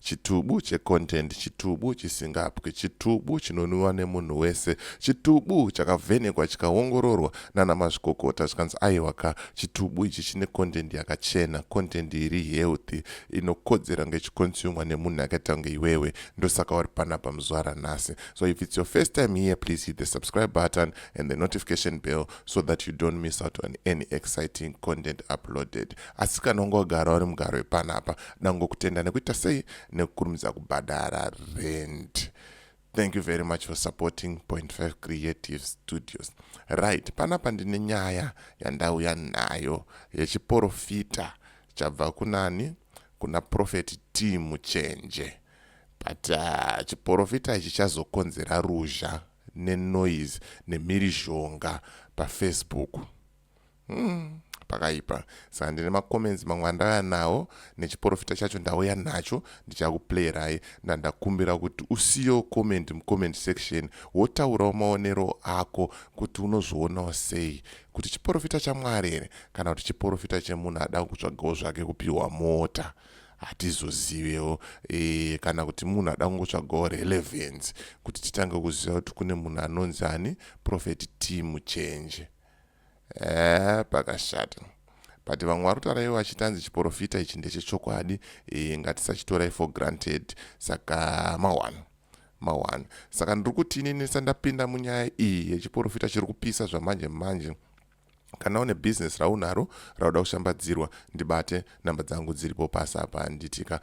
Chitubu che content, chitubu chisingapwi, chitubu chinonwiwa nemunhu wese, chitubu chakavhenekwa chikaongororwa nana mazvikokota zvikanzi aiwa ka chitubu ichi chine content yakachena, content iri healthy inokodzera kunge ichikonsumwa nemunhu akaita kunge iwewe, ndosaka wari panapa muzuva ranhasi. So if it's your first time here, please hit the subscribe button and the notification bell so that you don't miss out on any exciting content uploaded. Asi kana wanga wagara uri mugaro wepanapa, ndangokutenda nekuita sei nekukurumidza kubhadhara rent thank you very much for supporting point 5 creative studios right panapa ndine nyaya yandauya nayo yechiporofita chabva kunani kuna profeti t muchenje but uh, chiporofita ichi chazokonzera ruzha nenoise nemhirizhonga pafacebook Hmm, pakaipa saka ndine macomments mamwe andauya nawo nechiporofita chacho ndauya nacho ndichakuplayerai ndandakumbira kuti usiyo comment mucomment section wotaurawo maonero ako kuti unozvionawo sei kuti chiporofita chamwari here kana kuti chiporofita chemunhu ada kutsvagawo zvake kupiwa mota hatizozivewo e, kana kuti munhu ada kungotsvagawo relevance kuti titange kuziva kuti kune munhu anonzi ani profeti team change Eeh pakashata. But vamwe varikutaura ivo vachiti hanzi chiporofita ichi ndechechokwadi e, ngatisachitorai for granted saka mawana mawana saka ndiri kuti inini ndisa ndapinda munyaya iyi yechiporofita chiri kupisa zvamanje manje kana une bhizinesi raunaro rauda kushambadzirwa ndibate namba dzangu dziripo pasi apa nditika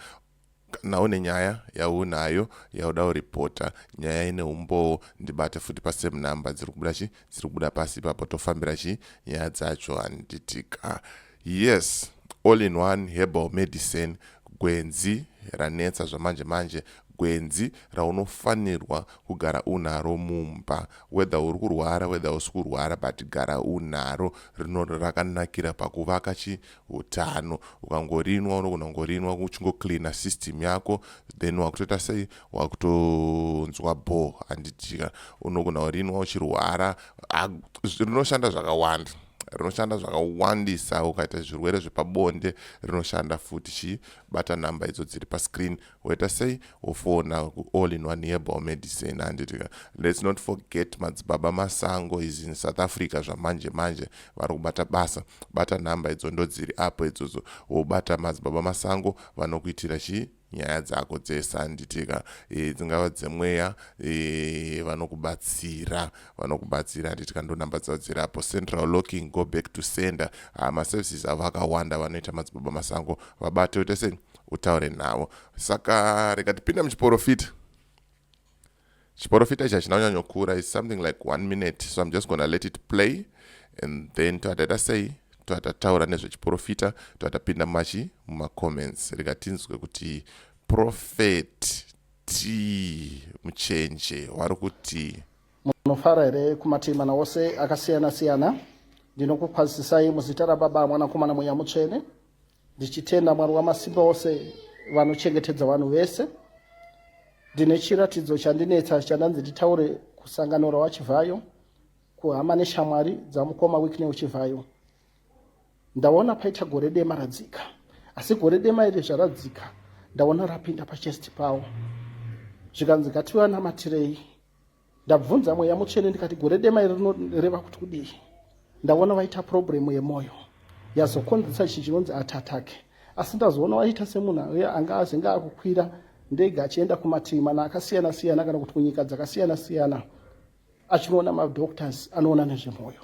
Kana une nyaya yaunayo yauda kuripota nyaya ine umbowo ndibate futi pasame number dziri kubuda chi dziri kubuda pasi ipapo tofambira chi nyaya dzacho handitika yes all in one herbal medicine gwenzi ranetsa zvamanje manje gwenzi raunofanirwa kugara unaro mumba whether uri kurwara whether usi kurwara but gara unaro rinori rakanakira pakuvaka chi utano ukangorinwa unogona kungorinwa uchingocleana system yako then wakutoita sei wakutonzwa bho handitika unogona kurinwa uchirwara rinoshanda zvakawanda rinoshanda zvakawandisa ukaita zvirwere zvepabonde rinoshanda futi chii bata nhamba idzo dziri pascreen waita sei wofona kuall in one herbal medicine handiti ka let's not forget madzibaba masango is in south africa zvamanje manje vari kubata basa bata nhamba idzo ndodziri apo idzodzo wobata madzibaba masango vanokuitira chii nyaya dzako dzese handitika e, dzingava dzemweya e, vanokubatsira vanokubatsira handitika ndonhamba dzavo dziri apo central locking go back to sender ah, maservices avo akawanda vanoita madzibaba masango vabate oita sei utaure navo saka rega tipinde muchiporofita chiporofita ichi hachina kunyanyokura is something like one minute so im just gonna let it play and then toataita sei toatataura nezvechiporofita toatapinda machi mumacomments rega tinzwe kuti profet t muchenje wari kuti munofara here kumatimana ose akasiyana siyana ndinokukwazisai muzita rababa mwanakomana mweya mutsvene Ndichitenda Mwari Wamasimba Ose vanochengetedza vanhu vese. Ndine chiratidzo chandinetsa chandanzi nditaure kusangano rawaChivhayo kuhama neshamwari dzamukoma Wicknell Chivhayo. Ndaona paita gore dema radzika, asi gore dema iri zvaradzika ndaona rapinda pachest pawo zvikanzi ngativanamatire ndabvunza mweya mutsvene ndikati gore dema iri rinoreva kuti kudii ndaona vaita problemu yemwoyo yazokonzesa ichi chinonzi atatake asi ndazoona waita semunhu aye anga azenge akukwira ndege achienda kumativi mana akasiyana siyana kana kuti kunyika dzakasiyana siyana achinoona madoctors anoona nezvemwoyo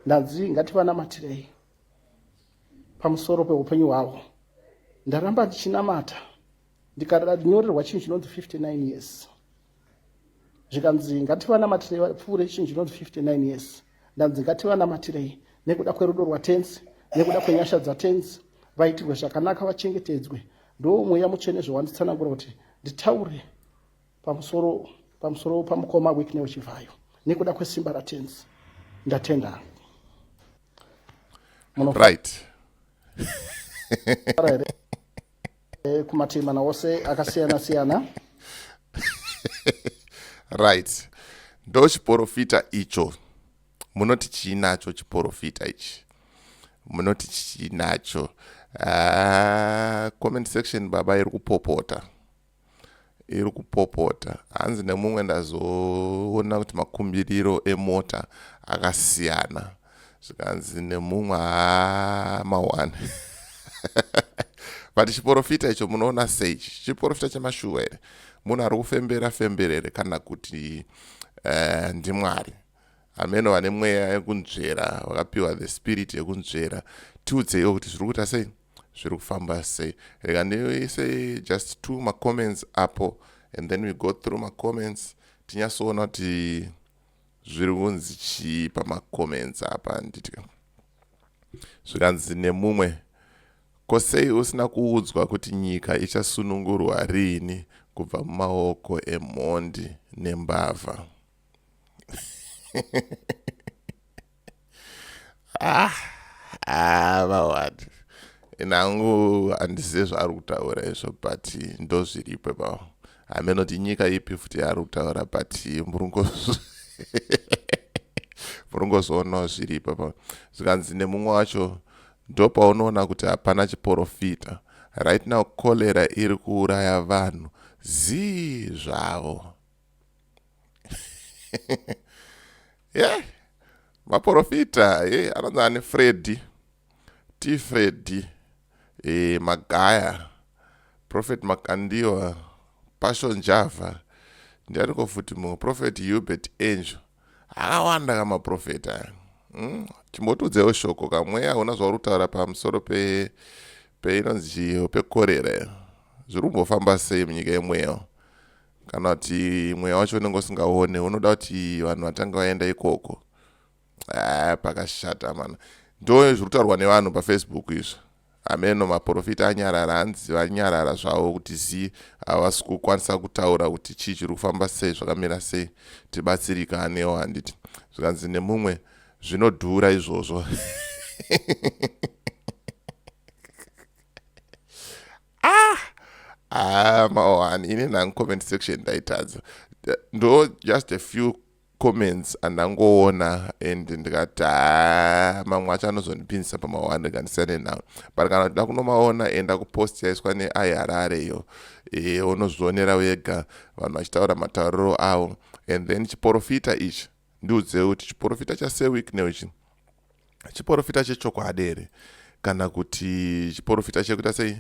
ndanzi ngativanamatirei pamusoro peupenyu hwavo ndaramba ndichinamata ndikanyorerwa chinhu chinonzi 59 years zvikanzi ngativanamatire vapfuure chinhu chinonzi 59 years ndanzi ngativanamatire nekuda kwerudo rwatenzi nekuda kwenyasha dzatenzi vaitirwe zvakanaka vachengetedzwe ndo mweya mutsvene zvewanditsanangura kuti nditaure pamusoro pamusoro pamukoma wikne wechivhayo nekuda kwesimba ratenzi ndatenda right eh, kumativi mana ose akasiyana siyana right ndo chiporofita icho munoti chiinacho chiporofita ichi munoti chiinacho uh, comment section baba iri kupopota iri kupopota hanzi nemumwe ndazoona kuti makumbiriro emota akasiyana zvikanzi nemumwe haa mawani but chiporofita icho munoona sei chiporofita chemashuva here munhu ari kufembera fembera here kana kuti uh, ndimwari hameno vane mweya yekunzvera vakapiwa the spirit yekunzvera tiudzeiwo kuti zviri kuita sei zviri kufamba sei rega ndiise just two macomments apo and then we go through macomments tinyasoona kuti zviri kunzi chii pamacomments apa handiti zvikanzi nemumwe ko sei usina kuudzwa kuti nyika ichasunungurwa riini kubva mumaoko emhondi nembavha ah, ah, vawani nangu handizive zvaari kutaura izvo but ndozviripo ipapo hameno kuti nyika ipi futi yaari kutaura but murungozoonawo zviripo ipapo zvikanzi nemumwe wacho ndopaunoona kuti hapana chiporofita right now cholera iri kuuraya vanhu zii zvavo yeah. maporofita ye yeah. anonzi ani fredi t fredi e, magaya prophet makandiwa passion java ndianiko futi mumwe prophet hubert angel akawanda ka maprofeta aya hmm? chimbotiudzewo shoko kamweya hauna zvauri kutaura pamusoro pe peinonzi chiyo pekorera zviri kumbofamba sei munyika yemweya kana kuti mweya wacho unenge usingaone unoda kuti vanhu vatange vaenda ikoko ah, pakashata mana ndo zviri kutaurwa nevanhu pafacebook izvo ameno maprofita anyarara hanzi vanyarara zvavo kuti zii havasi kukwanisa kutaura kuti chii chiri kufamba sei zvakamira sei tibatsirika anewo handiti zvikanzi nemumwe zvinodhura izvozvo ah ah mawani ini nangu comment section ndaitadza ndo just a few comments andangoona and ndikati ah, mamwe acho anozondipinzisa pamawani ndikandisane nawo but kana kuti ndakunomaona enda kupost yaiswa neai harare iyo e, unozvionera wega vanhu vachitaura matauriro avo and then chiporofita ichi ndiudze kuti chiporofita chaseweeknel ichi chiporofita chechokwadi here kana kuti chiporofita chekuita sei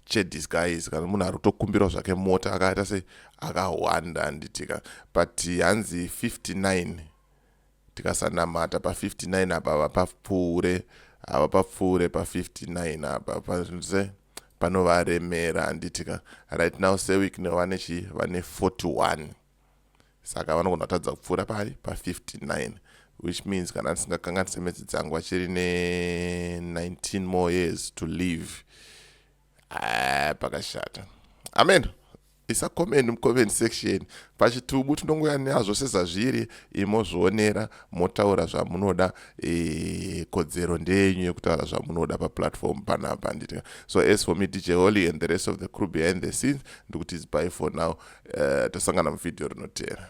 chedisguise kana munhu ari kutokumbirawo zvake mota akaita sei akahwanda handitika but hanzi 59 tikasanamata pa59 apa vapapfuure hava papfuure pa59 apa pase panovaremera handitika right now seweek nevane chi vane 41 saka vanogona kutadza kupfuura pari pa59 which means kana ndisingakanganise metsi dzangu vachiri ne19 more years to live ah, pakashata amen isa comment mucomment section pachitubu tinongoya nazvo sezvazviri imozvionera motaura zvamunoda e, kodzero ndeyenyu yekutaura zvamunoda paplatform panapa handiti so as for me dj holy and the rest of the crew behind the scenes ndikuti zibai for now uh, eh, tasangana muvhidhiyo rinotera